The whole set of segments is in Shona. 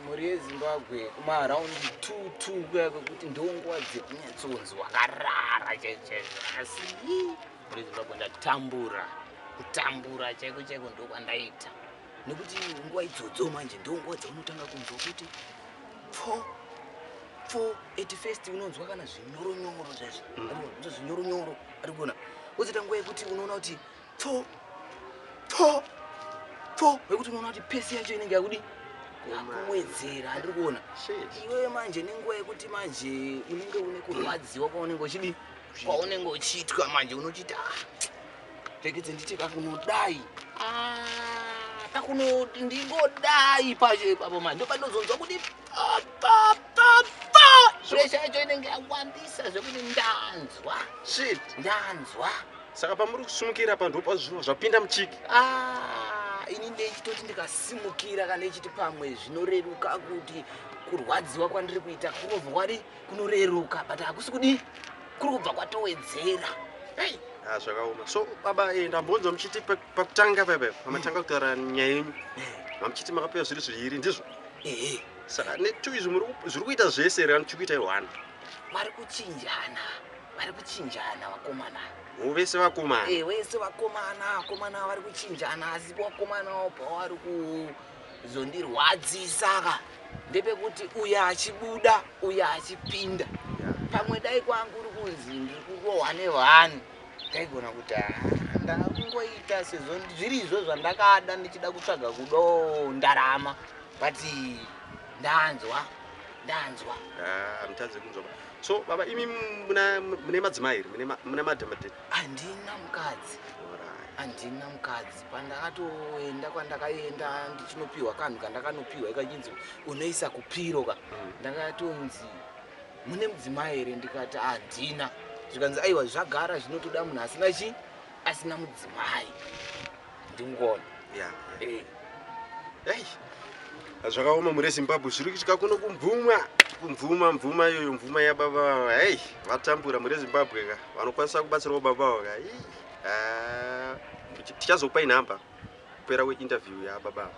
Mhuri yeZimbabwe kuma around 22 kuya kwekuti ndonguva dzekunyatsoonzi wakarara chaizvo asi mhuri yeZimbabwe ndatambura kutambura chaiko chaiko ndokwandaita nekuti nguva idzodzo manje ndonguva dzaunotanga kunzwa kuti pfo pfo at first unonzwa kana zvinyoronyoro zvaizvo zvinyoronyoro arikuona wozoita nguva yekuti unoona kuti pfo pfo pfo wekuti unoona kuti pesi yacho inenge yakudi akuwedzera andiri kuona iwe manje nenguva yekuti manje unenge une kurwadziwa kwaunenge uchidi kwaunenge uchiitwa manje unochiita ah, rekedze nditi kakunodai ah, kakuno ndingodai pacho ipapo manje ndopanozonzwa kuti presha yacho inenge yawandisa zvekuti ndanzwa ndanzwa saka pamuri kusimukira apa ndopa zviva zvapinda muchiki ah, ini ndechitoti ndikasimukira kana ichiti pamwe zvinoreruka kuti kurwadziwa kwandiri kuita kunobva kwadi kunoreruka but hakusi kudi kuri kubva kwatowedzera hey. Ah, zvakaoma so baba eh, ndambonzwa muchiti pakutanga pepe pamatanga kutaura nyaya yenyu mamuchiti makapiwa zviri zviiri ndizvo saka netu izvi zviri kuita zvese rani tiri kuita iwana vari kuchinjana vari kuchinjana vakomana avo vese vakomana eh, vese vakomana vakomana vari kuchinjana asi vakomana avo pavari kuzondirwadzisa ka ndepekuti uyo achibuda uyo achipinda pamwe dai kwangu uri kunzi ndiri kurohwa nevanhu ndaigona kuti ah, ndakungoita sezvo zviri izvo zvandakada ndichida kutsvaga kudo ndarama but ndanzwa ndanzwa ah, hamutadze kunzwa so baba imi mune madzimai here mune madamate handina mukadzi handina mukadzi pandakatoenda kwandakaenda ndichinopiwa kanhu kandakanopiwa ikachinzi unoisa kupiro ka mm. ndakatonzi mune mudzimai here ndikati handina zvikanzi aiwa zvagara zvinotoda munhu asina chii asina mudzimai ndingon yeah, yeah. Eh. Hey. zvakaoma mure zimbabwe zviri kuitika kuno kumvumwa kumvuma mvuma iyoyo mvuma yababa vava hei vatambura mure zimbabwe ka vanokwanisa kubatsirawo baba vavo ka ah, tichazopai nhamba kupera kweinterview yababa ava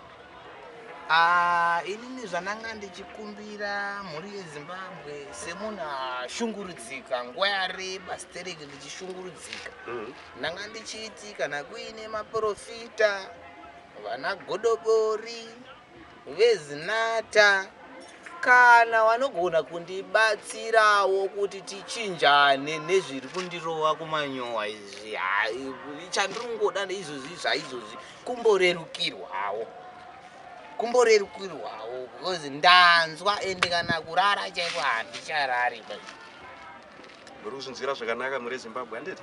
ah, inini zvananga ndichikumbira mhuri yezimbabwe semunhu ashungurudzika nguva yareba stereki ndichishungurudzika mm -hmm. Ndanga ndichiti kana kuine maporofita, vana godobori, vezinata kana vanogona kundibatsirawo kuti tichinjane nezviri kundirova kumanyowa izvi hai chandiri kungoda neizvozvi zvaizvozvi kumborerukirwawo kumborerukirwawo because ndanzwa ende kana kurara chaiko handicharari muri kuzvinzwira zvakanaka muri zimbabwe handiti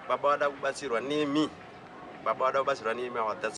baba vada kubatsirwa nemi baba vada kubatsirwa nemi awa